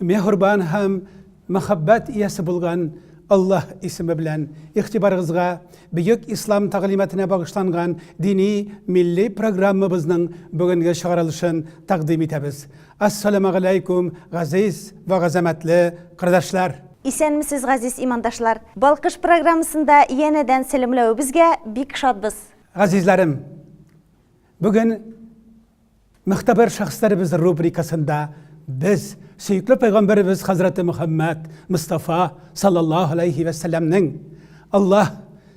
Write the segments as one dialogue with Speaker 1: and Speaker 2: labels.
Speaker 1: Мехурбан һәм мәхәббәт иясе булган Аллаһ исеме белән игътибарыгызга Бөек Ислам тәгълиматына багышланган дини милли программабызның бүгенге чыгарылышын тәкъдим итәбез. Ассаламагаләйкүм, газиз вә газәмәтле кырдашлар! Исәнмесез,
Speaker 2: газиз имандашлар! Балкыш программасында янәдән сәламләвебезгә бик шатбыз! Газизләрем!
Speaker 1: Бүген Мөгътәбәр шәхесләребез рубрикасында без сөекле пәйгамбәребез хәзрәте Мөхәммәд Мостафа саллаллаһу алейхи вә сәлләмнең Аллаһ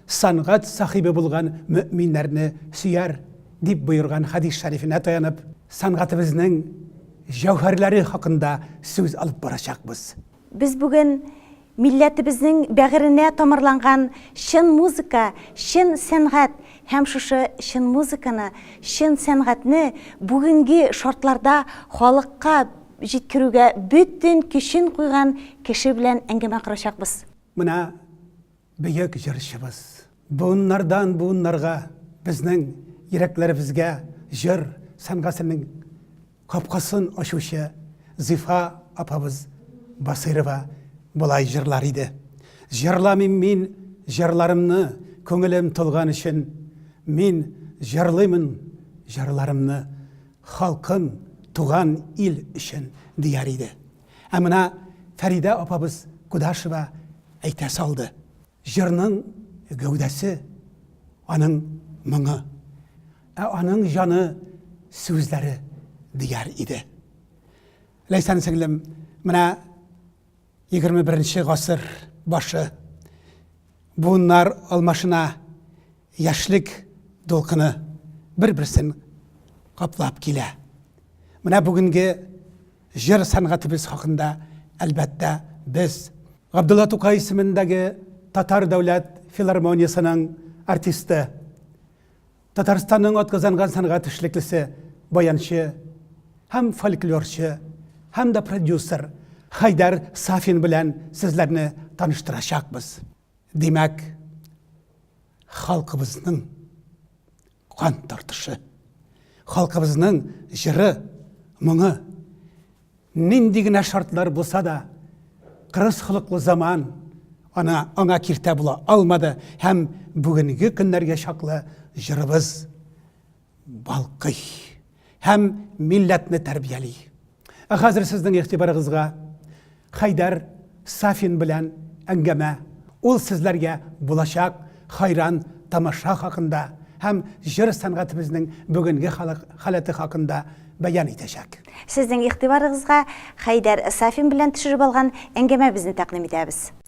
Speaker 1: сәнгать сахибе булган мөэминнәрне сөяр дип боерган хәдис шәрифенә таянып, сәнгатебезнең җәүһәрләре хакында сүз алып барачакбыз. Без бүген
Speaker 2: Милләтебезнең бәгыренә тамырланган чын музыка, чын сәнгать һәм шушы чын музыканы, чын сәнгатьне бүгенге шартларда халыкка җиткерүгә бөтен көчен куйган кеше белән әңгәмә корачакбыз. Менә
Speaker 1: бөек җырчыбыз. Буыннардан буыннарга безнең йөрәкләребезгә җыр сәнгатенең Капкасын ачучы Зифа апабыз Басыйрова болай җырлар иде, Җырламыйм мин җырларымны, Күңелем тулган өчен. Мин җырлыймын җырларымны, Халкым, туган ил өчен, дияр иде. Ә менә Фәридә апабыз Кудашева әйтә салды. Җырның гәүдәсе, аның моңы, ә аның җаны, сүзләре, дияр иде. Ләйсән сеңлем, менә егерме беренче гасыр башы, буыннар алмашына, яшьлек дулкыны бер-берсен каплап килә. Менә бүгенге Җыр сәнгатебез хакында, әлбәттә, без, Габдулла Тукай исемендәге Татар дәүләт филармониясенең артисты, Татарстанның атказанган сәнгать эшлеклесе, баянчы һәм фольклорчы һәм дә продюсер Хәйдәр Сафин белән сезләрне таныштырачакбыз. Димәк, халкыбызның Кан тартышы. Халкыбызның җыры, моңы. Нинди генә шартлар булса да, кырыс холыклы заман ана аңа киртә була алмады һәм бүгенге көннәргә чаклы җырыбыз балкый. һәм милләтне тәрбияли. Ә хәзер сезнең игътибарыгызга Хәйдәр Сафин белән әңгәмә. Ул сезләргә булачак хайран тамаша хакында һәм җыр сәнгатебезнең бүгенге халык халәте хакында бәян итәчәк. Сезнең игътибарыгызга
Speaker 2: Хәйдәр Сафин белән төшереп алган әңгәмәбезне тәкъдим итәбез.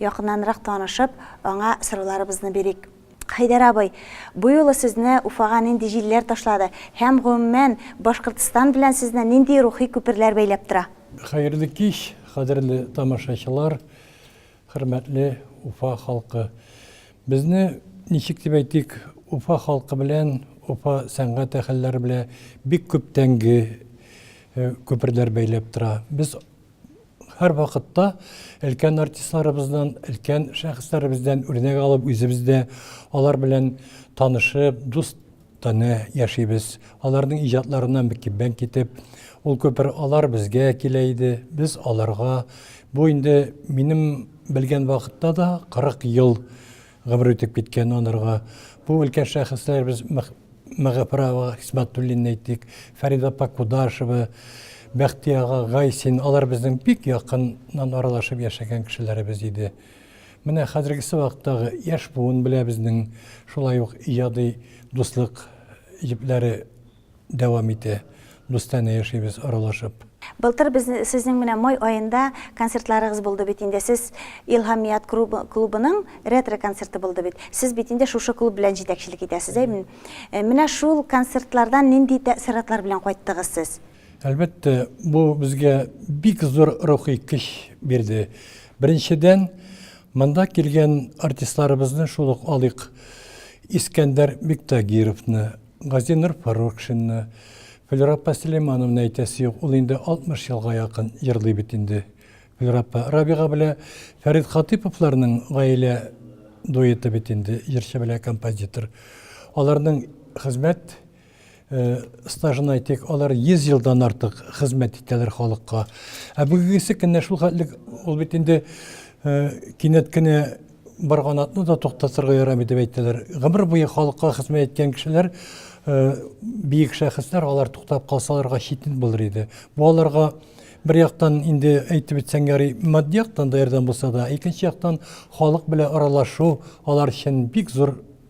Speaker 2: Якыннанрак танышып, аңа сорауларыбызны бирик. Хәйдәр абый, бу юлы сезне Уфага нинди җилләр ташлады һәм, гомумән, Башкортстан белән сезне нинди рухи күперләр бәйләп тора? Хәерле кич,
Speaker 3: кадерле тамашачылар, хөрмәтле Уфа халкы! Безне, ничек дип әйтик, Уфа халкы белән, Уфа сәнгать әһелләре белән бик күптәнге күперләр бәйләп тора. Без Һәр вакытта өлкән артистларыбыздан, өлкән шәхесләребездән үрнәк алып, үзебез дә алар белән танышып, дус таны яшибез. Аларның иҗатларына мөкиббән китеп, ул күпер алар безгә килә иде, без аларга. Бу инде минем белгән вакытта да 40 ел гомер үтеп киткән анарга. Бу өлкән шәхесләребез Мәгафәрова Хисмәтуллина әйтик, Фәридә апа Кудашева, Бәхти ага Гайсин, алар безнең бик якыннан аралашып яшәгән кешеләребез иде. Менә хәзергесе вакыттагы яшь буын белә безнең шулай ук иҗади дуслык җепләре дәвам итә. Дустанә яшибез аралашып. Былтыр без
Speaker 2: сезнең менә май аенда концертларыгыз булды бит инде. Сез Илһамият клубының ретро концерты булды бит. Сез бит инде шушы клуб белән җитәкчелек итәсез, әй бит? Менә шул концертлардан нинди тәэссоратлар белән кайттыгыз сез? Әлбәттә,
Speaker 3: бу безгә бик зур рухи көч бирде. Беренчедән, монда килгән артистларыбызны шул ук алыйк, Искәндәр Биктагировны, Газинур Фаррукшинны, Флюра апа Сөләймановны әйтәсе юк, ул инде 60 елга якын җырлый бит инде. Флюра апа, Рабига белән Фәрит Хатыйповларның гаилә дуэты бит инде, җырчы белән композитор. Аларның хезмәт стажын әйтик, алар 100 елдан артык хезмәт итәләр халыкка. Ә бүгенгесе көнне шул хәтле ул бит инде кинәт кенә Барганатны да туктатырга ярамый дип әйтәләр. Гомер буе халыкка хезмәт иткән кешеләр, э, биек шәхесләр, алар туктап калсаларга читен булыр иде. Бу аларга бер яктан инде әйтеп үтсәң ярый, матди яктан да ярдәм булса да, икенче яктан халык белән аралашу алар өчен бик зур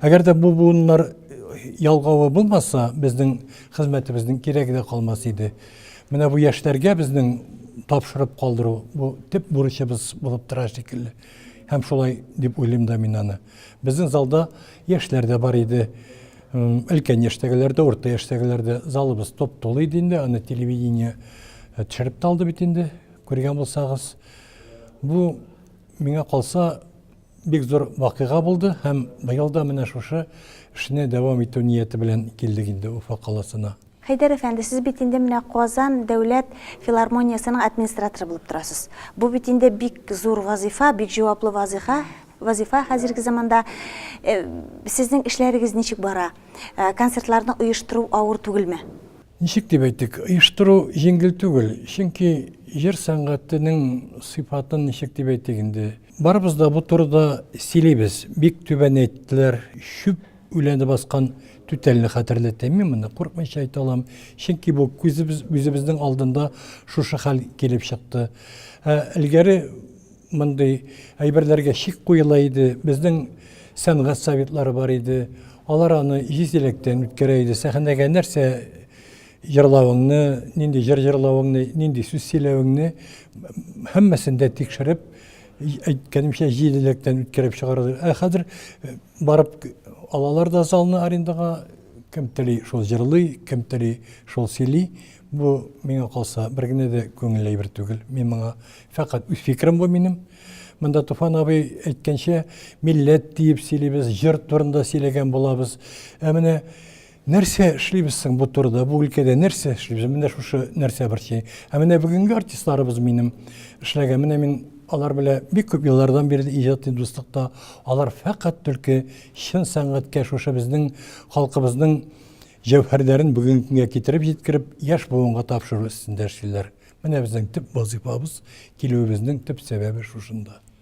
Speaker 3: Әгәр дә бу буыннар ялгавы булмаса, безнең хезмәтебезнең кирәге дә калмас иде. Менә бу яшьләргә безнең тапшырып калдыру, бу төп бурычыбыз булып тора шикелле. Һәм шулай дип уйлыйм да мин аны. Безнең залда яшьләр дә бар иде, өлкән яшьтәгеләр дә, урта яшьтәгеләр дә. Залыбыз туп-тулы иде инде, аны телевидение төшереп тә алды бит инде, күргән булсагыз. Бу, миңа калса, Бик зур вакыйга булды һәм быел да менә шушы эшне дәвам итү нияте белән килдек инде Уфа каласына. Хәйдәр әфәнде, сез
Speaker 2: бит инде менә Казан дәүләт филармониясенең администраторы булып торасыз. Бу бит инде бик зур вазыйфа, бик җаваплы вазыйфа, вазыйфа хәзерге заманда. Э, сезнең эшләрегез ничек бара? Э, концертларны оештыру авыр түгелме? Ничек дип
Speaker 3: әйтик, оештыру җиңел түгел, чөнки җыр сәнгатенең сыйфатын ничек дип әйтик инде, Барыбыз да бу турыда сөйлибез. Бик түбән әйттеләр, чүп үләне баскан түтәлне хәтерләтә. Мин моны курыкмыйча әйтә алам. Чөнки бу күзебез үзебезнең алдында шушы хәл килеп чыкты. Ә элгәре мондый әйберләргә шик куела иде. Безнең сәнгать советлары бар иде. Алар аны җиз иләктән үткәрә иде. Сәхнәгә нәрсә Җырлавыңны, нинди җыр җырлавыңны, нинди сүз сөйләвеңне һәммәсен дә тикшереп, әйткәнемчә, җиделектән үткәреп чыгаралар. Ә хәзер э, барып алалар да залны арендага, кем тели шул җырлый, кем тели шул сөйли. Бу миңа калса бер генә дә күңелле әйбер түгел. Мин моңа фәкать үз фикерем бу минем. Монда Туфан абый әйткәнчә, милләт диеп сөйлибез, җыр турында сөйләгән булабыз. Ә менә Нәрсә эшлибез соң бу турыда, бу өлкәдә нәрсә эшлибез? Менә шушы нәрсә борчый. Ә менә бүгенге артистларыбыз минем эшләгән, менә мин алар белән бик күп еллардан бирле иҗади дуслыкта, алар фәкать түлке чын сәнгатькә шушы безнең халкыбызның җәүһәрләрен бүгенге көнгә китереп җиткереп, яшь буынга тапшыру өстендә эшлиләр. Менә безнең төп вазыйфабыз, килүебезнең төп сәбәбе шушында.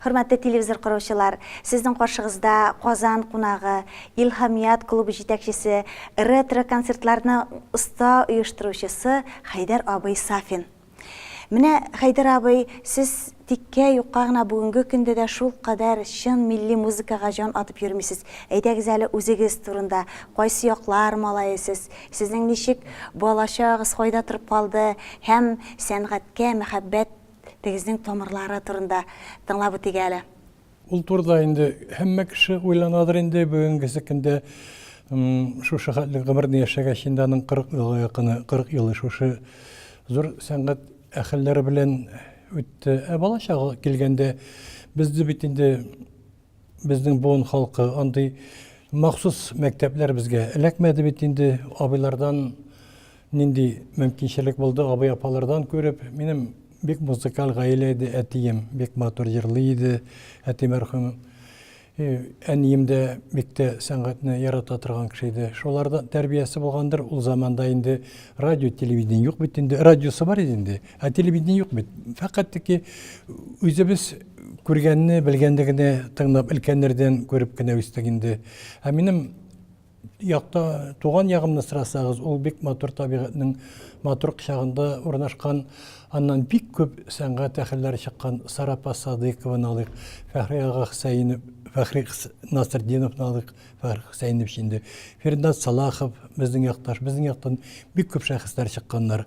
Speaker 4: Хөрмәтле телевизор
Speaker 2: караучылар, сезнең каршыгызда Казан кунагы, Илһамият клубы җитәкчесе, ретро концертларны оста оештыручысы Хәйдәр абый Сафин. Менә, Хәйдәр абый, сез тиккә, юкка гына бүгенге көндә дә шулкадәр чын милли музыкага җан атып йөрмисез. Әйдәгез әле үзегез турында, кайсы яклар малае сез, сезнең ничек балачагыгыз кайда торып калды һәм сәнгатькә мәхәббәт Тегезнең тамырлары турында тыңлап үтик әле. Ул турыда
Speaker 3: инде һәммә кеше уйланадыр инде бүгенгесе көндә шушы хәтле гомерне яшәгәч инде аның 40 елга якыны 40 елы шушы зур сәнгать әһелләре белән үтте ә бала чагы килгәндә безне бит инде Безнең буын халкы андый махсус мәктәпләр безгә эләкмәде бит инде. Абыйлардан нинди мөмкинчелек булды, абый-апалардан күреп, минем бик музыкаль гаилә иде, әтием бик матур җырлый иде, әти мәрхүм. И, әнием дә бик тә сәнгатьне ярата торган кеше иде. Шуларда тәрбиясе булгандыр, ул заманда инде радио, телевидение юк бит инде, радиосы бар иде инде. Ә телевидение юк бит. Фәкать тики үзебез күргәнне, белгәнне генә тыңлап, өлкәннәрдән күреп кенә үстек инде. Ә минем якта туган ягымны сорасагыз, ул бик матур табигатьнең матур кочагында урнашкан, аннан бик күп сәнгать әһелләре чыккан Сарапа Садыйкованы алыйк, Фәхри ага Хөсәенов, Фәхри Насретдиновны алыйк, Фәхри Хөсәенов инде. Фирдат Салахов безнең якташ, безнең яктан бик күп шәхесләр чыкканнар.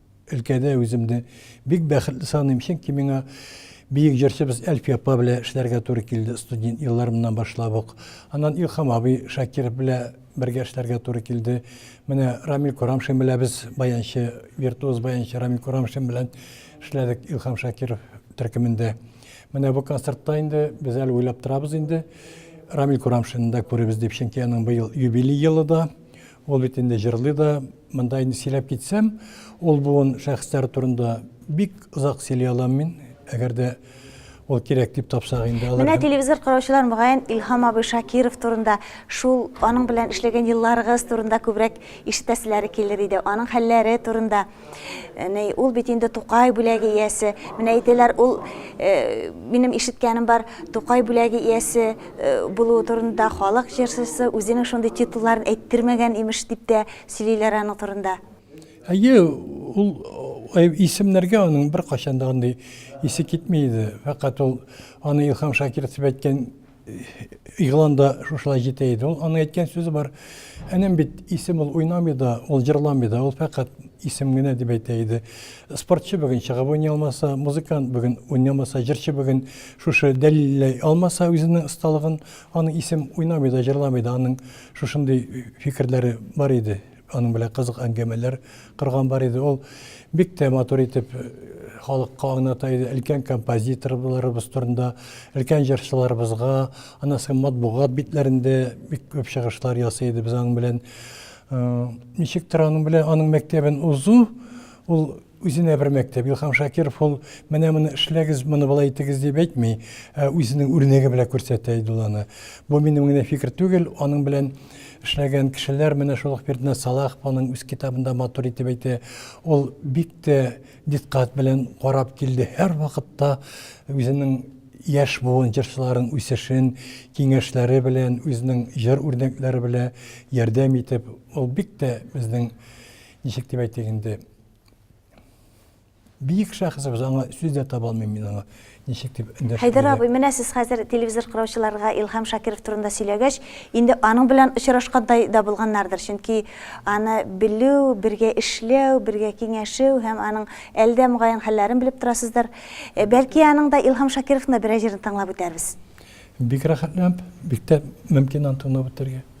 Speaker 3: Өлкәдә үземне бик бәхетле саныйм, чөнки миңа бөек җырчыбыз Әлфия апа белән эшләргә туры килде, студент елларымнан башлап ук. Аннан Илһам абый Шакиров белән бергә эшләргә туры килде. Менә Рамил Курамшин белән без баянчы, виртуоз баянчы Рамил Курамшин белән эшләдек Илһам Шакиров төркемендә. Менә бу концертта инде без әле уйлап торабыз инде. Рамил Курамшинны да күрербез дип, чөнки аның быел юбилей елы да. Ул бит инде җырлый да. Монда инде сөйләп китсәм, ул буын шәхесләре турында бик озак сөйли алам мин. Әгәр дә ул кирәк дип тапсак инде. Менә телевизор караучылар
Speaker 2: мөгаен Илһам абый Шакиров турында, шул аның белән эшләгән елларыгыз турында күбрәк ишетәселәре килер иде. Аның хәлләре турында. Әнә ул бит инде Тукай бүләге иясе. Менә әйтәләр, ул э, минем ишеткәнем бар, Тукай бүләге иясе э, булуы турында халык җырчысы үзенең шундый титулларын әйттермәгән имеш дип тә сөйлиләр аның турында. Әйе,
Speaker 3: ул э, исемнәргә аның бер кайчан да андый исе китми иде. Фәкать ул аны Илһам Шакиров дип әйткән игълан да шушылай җитә иде. Ул аның әйткән сүзе бар. Энем бит исем ул уйнамый да, ул җырламый да, ул фәкать исем генә дип әйтә иде. Спортчы бүген чыгып уйный алмаса, музыкант бүген уйнамаса, җырчы бүген шушы дәлилләй алмаса үзенең осталыгын, аның исем уйнамый да, җырламый да, аның шушындый фикерләре бар иде. Аның белән кызык әңгәмәләр корган бар иде. Ул бик тә матур итеп халыкка аңлата иде, өлкән композиторларыбыз турында, өлкән җырчыларыбызга, аннан соң матбугат битләрендә бик күп чыгышлар ясый иде без аның белән. Ничектер аның белән аның мәктәбен узу, ул Үзенә бер мәктәп. Илһам Шакиров ул менә моны эшләгез, моны болай итегез дип әйтми, ә үзенең үрнәге белән күрсәтә иде ул аны. Бу минем генә фикер түгел, аның белән эшләгән кешеләр, менә шул ук Фирднәс Салахов аның үз китабында матур итеп әйтә, ул бик тә дикъкать белән карап килде, һәрвакытта үзенең яшь буын җырчыларын үсешен киңәшләре белән, үзенең җыр үрнәкләре белән ярдәм итеп, ул бик тә безнең, ничек дип әйтик инде, Бик шәхсәбез аңа сүз дә таба алмыйм мин аңа. Ничек дип эндәшергә. Хәйдәр абый, менә сез хәзер
Speaker 2: телевизор караучыларга Илһам Шакиров турында сөйләгәч, инде аның белән очрашкандай да булганнардыр, чөнки аны белү, бергә эшләү, бергә киңәшү һәм аның әле дә мөгаен хәлләрен белеп торасыздыр. Э, бәлки аның да Илһам Шакировның да берәр җырын тыңлап үтәрбез. Бик
Speaker 3: рәхәтләнеп, бик тә мөмкин аны тыңлап үтәргә.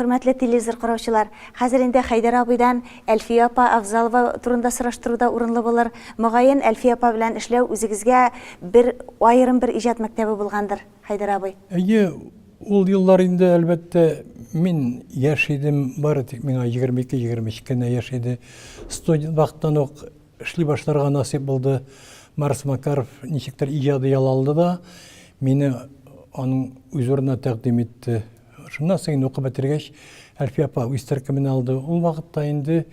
Speaker 2: Хөрмәтле телевизор караучылар, хәзер инде Хәйдәр абыйдан Әлфия апа Авзалова турында сораштыру да урынлы булыр. Мөгаен, Әлфия апа белән эшләү үзегезгә бер аерым бер иҗат мәктәбе булгандыр, Хәйдәр абый? Әйе,
Speaker 3: Ул еллар инде, әлбәттә, мин яшь идем, бары тик миңа егерме ике, егерме өч кенә яшь иде. Студент вакыттан ук эшли башларга насыйп булды. Марс Макаров ничектер иҗади ял алды да, мине аның үз урынына тәкъдим итте. Шуннан соң инде укып бетергәч, Әлфия апа үз төркеменә алды. Ул вакытта инде,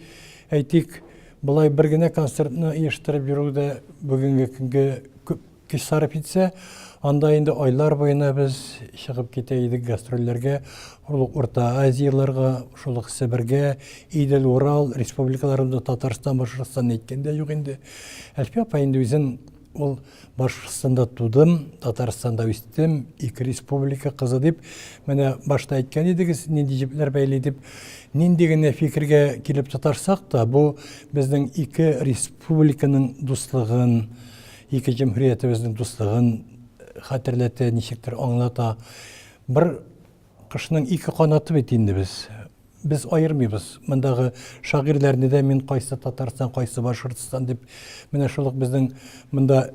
Speaker 3: әйтик, болай бер генә концертны оештырып йөрү дә бүгенге көнгә күп Көч сарыф итсә, анда инде айлар буена без чыгып китә идек гастрольләргә, шул ук Урта Азияләргә, шул ук Себергә, Идел, Урал республикаларында, Татарстан, Башкортстан әйткән дә юк инде. Әлфия апа инде үзен ул Башкортстанда тудым, Татарстанда үстем, ике республика кызы дип, менә башта әйткән идегез, нинди җепләр бәйли дип, нинди генә фикергә килеп тотарсак та, бу безнең ике республиканың дуслыгын, Ике җөмһүриятебезнең дуслыгын хәтерләтә, ничектер аңлата. Бер кошның ике канаты бит инде без. Без аермыйбыз. Мондагы шагыйрьләрне дә мин кайсы Татарстан, кайсы Башкортстан дип, менә шул ук безнең монда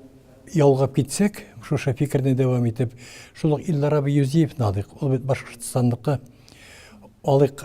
Speaker 3: ялгап китсәк, шушы фикерне дәвам итеп, шул ук Илдар абый Юзиевны алыйк. Ул бит Башкортстанныкы. Алыйк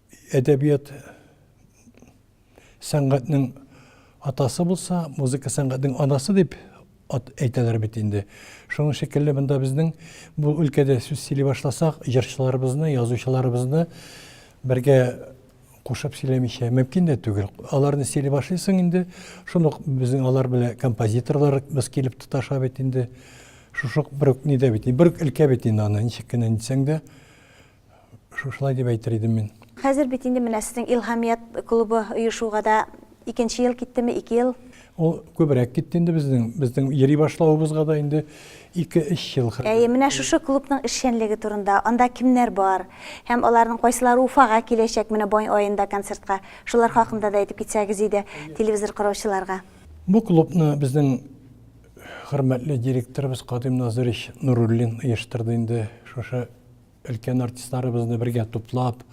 Speaker 3: Әдәбият сәнгатьнең атасы булса, музыка сәнгатьнең анасы дип әйтәләр бит инде. Шуның шикелле монда безнең бу өлкәдә сүз сөйли башласак, җырчыларыбызны, язучыларыбызны бергә кушып сөйләмичә мөмкин дә түгел. Аларны сөйли башлыйсың инде, шундук безнең алар белән композиторлар без килеп тоташа бит инде. Шушук бер үк нидә бит, бер үк өлкә бит инде аны ничек кенә дисәң дә. Шушылай дип әйтер идем мин. Хәзер бит инде менә
Speaker 2: сезнең Илһамият клубы оешуга да икенче ел киттеме, ике ел? Ул күбрәк
Speaker 3: китте инде безнең, безнең йөри башлавыбызга да инде ике-өч ел. Әйе, менә шушы клубның
Speaker 2: эшчәнлеге турында, анда кемнәр бар һәм аларның кайсылары Уфага киләчәк менә май аенда концертка, шулар хакында да әйтеп китсәгез иде телевизор караучыларга. Бу клубны
Speaker 3: безнең хөрмәтле директорыбыз Кадыйм Назыйрич Нуруллин оештырды инде шушы Өлкән артистларыбызны бергә туплап,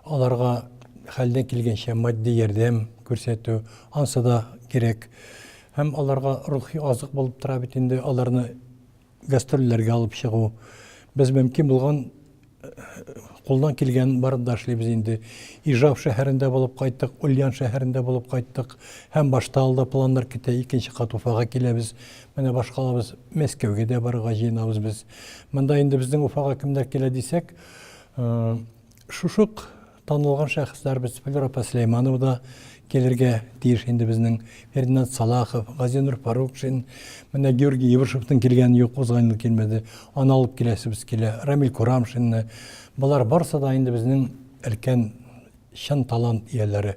Speaker 3: аларга хәлдән килгәнчә матди ярдәм күрсәтү, ансы да кирәк. Һәм аларга рухи азык булып тора бит инде, аларны гастрольләргә алып чыгу. Без мөмкин булган, кулдан килгән барып да эшлибез инде. Ижау шәһәрендә булып кайттык, Ульян шәһәрендә булып кайттык. Һәм башта алда планнар көтә, икенче кат Уфага киләбез. Менә башкалабыз Мәскәүгә дә барырга җыенабыз без. Монда инде безнең Уфага кемнәр килә дисәк, шушык танылган шәхесләр без Флюрапа Сөләйманова да килергә тиеш инде безнең Фердинат Салахов, Газинур Фарукшин, менә Георгий Ебышевтың килгән юк, узган ел килмәде. Аны алып киләсебез килә. Рамил Курамшинны. Болар барсы да инде безнең өлкән чын талант ияләре.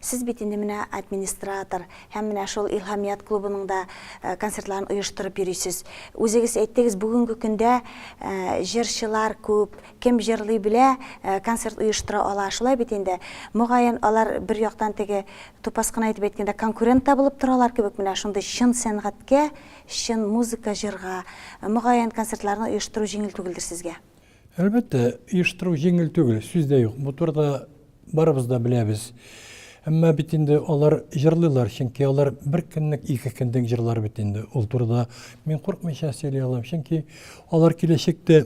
Speaker 2: Сез бит инде менә администратор һәм менә шул Илһамият клубының да концертларын оештырып йөрисез. Үзегез әйттегез, бүгенге көндә җырчылар күп, кем җырлый белә, концерт оештыра ала, шулай бит инде. Мөгаен, алар бер яктан теге, тупас кына итеп әйткәндә, конкурент та булып торалар кебек менә шундый чын сәнгатькә, чын музыка, җырга, мөгаен, концертларны оештыру җиңел түгелдер сезгә? Әлбәттә,
Speaker 3: оештыру җиңел түгел, сүз дә юк. Бу турыда барыбыз да беләбез. Әмма бит инде алар җырлыйлар, чөнки алар бер көнлек, ике көнлек җырлар бит инде. Ул турыда мин куркмыйча сөйли алам, чөнки алар киләчәктә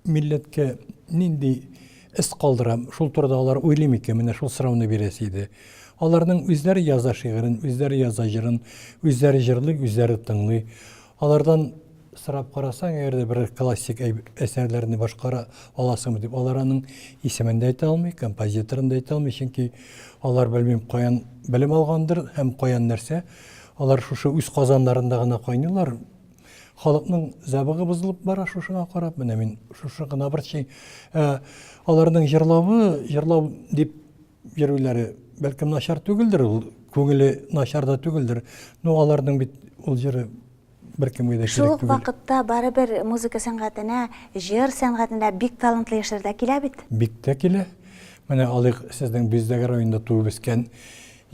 Speaker 3: милләткә нинди эз калдыра, шул турыда алар уйлый микән? Менә шул сорауны бирәсе иде. Аларның үзләре яза шигырен, үзләре яза җырын, үзләре җырлый, үзләре тыңлый. Алардан сорап карасаң, әгәр дә бер классик әсәрләрне башкара аласыңмы дип, алар аның исемен дә әйтә алмый, композиторын да әйтә алмый, чөнки алар белмим каян белем алгандыр һәм каян нәрсә, алар шушы үз казаннарында гына кайныйлар. Халыкның зәбыгы бозылып бара шушыга карап, менә мин шушы гына борчый. Ә аларның җырлавы, җырлау дип йөрүләре, бәлкем, начар түгелдер, ул күңеле начар да түгелдер. Ну, аларның бит ул җыры беркемгә дә кирәк түгел. Шул ук вакытта
Speaker 2: барыбер музыка сәнгатенә, җыр сәнгатенә бик талантлы яшьләр дә килә бит. Бик тә килә.
Speaker 3: Менә алыйк, сезнең Биздәге районында туып үскән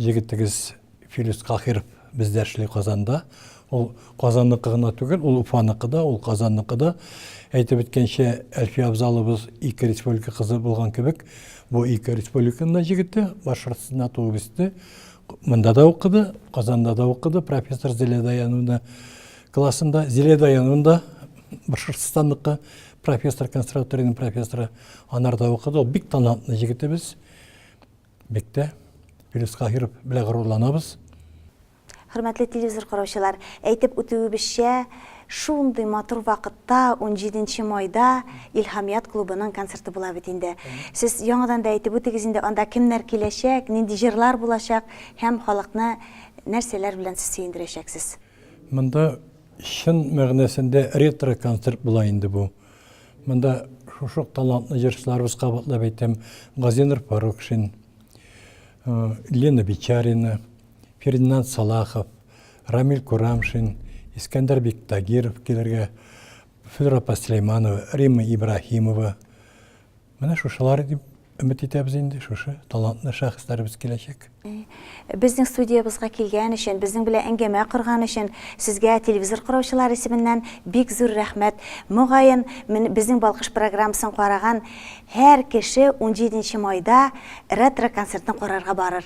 Speaker 3: җегетегез. Филүс Каһиров бездә эшли Казанда. Ул Казанныкы гына түгел, ул Уфаныкы да, ул Казанныкы да. Әйтеп үткәнчә, Әлфия Авзалыбыз ике республика кызы булган кебек, бу ике республиканың да җегете, Башкортстанда туып үсте, монда да укыды, Казанда да укыды, профессор Зилә Даяновна классында. Зилә Даяновна да Башкортстанныкы, профессор, консерваториянең профессоры, анарда укыды. Ул бик талантлы җегетебез. Бектә Филүс Каһиров белән горурланабыз.
Speaker 2: Хөрмәтле телевизор караучылар, әйтеп үтүебезчә, шундый матур вакытта, унҗиденче майда Илһамият клубының концерты була бит инде. Сез яңадан да әйтеп үтегез инде, анда кемнәр киләчәк, нинди җырлар булачак һәм халыкны нәрсәләр белән сез сөендерәчәксез? Монда
Speaker 3: чын мәгънәсендә ретро-концерт була инде бу. Монда шушы ук талантлы җырчыларыбыз кабатлап әйтәм, Газинур Фарукшин, Лена Бичарина, Фердинанд Салахов, Рамиль Курамшин, Искәндәр Биктагиров килергә, Флюра Паслейманова, Римма Ибраһимова, Менә шушылар дип өмет итәбез инде, шушы талантлы шәхесләребез киләчәк. Безнең
Speaker 2: студиябызга килгән өчен, безнең белән әңгәмә корган өчен сезгә телевизор караучылар исеменнән бик зур рәхмәт. Мөгаен, безнең Балкыш программасын караган һәр кеше 17 нче майда ретро концертын карарга барыр.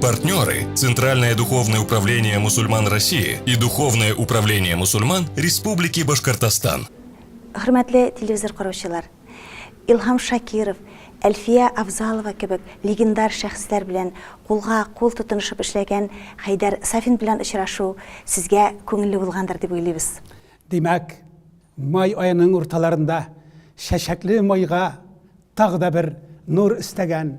Speaker 4: Партнеры – Центральное духовное управление мусульман России и Духовное управление мусульман Республики Башкортостан. Хөрмәтле
Speaker 2: телевизор караучылар, Илһам Шакиров, Әлфия Авзалова кебек легендар шәхесләр белән кулга кул тотынышып эшләгән Хәйдәр Сафин белән очрашу сезгә күңелле булгандыр дип уйлыйбыз. Димәк,
Speaker 1: май аеның урталарында чәчәкле майга тагы да бер нур өстәгән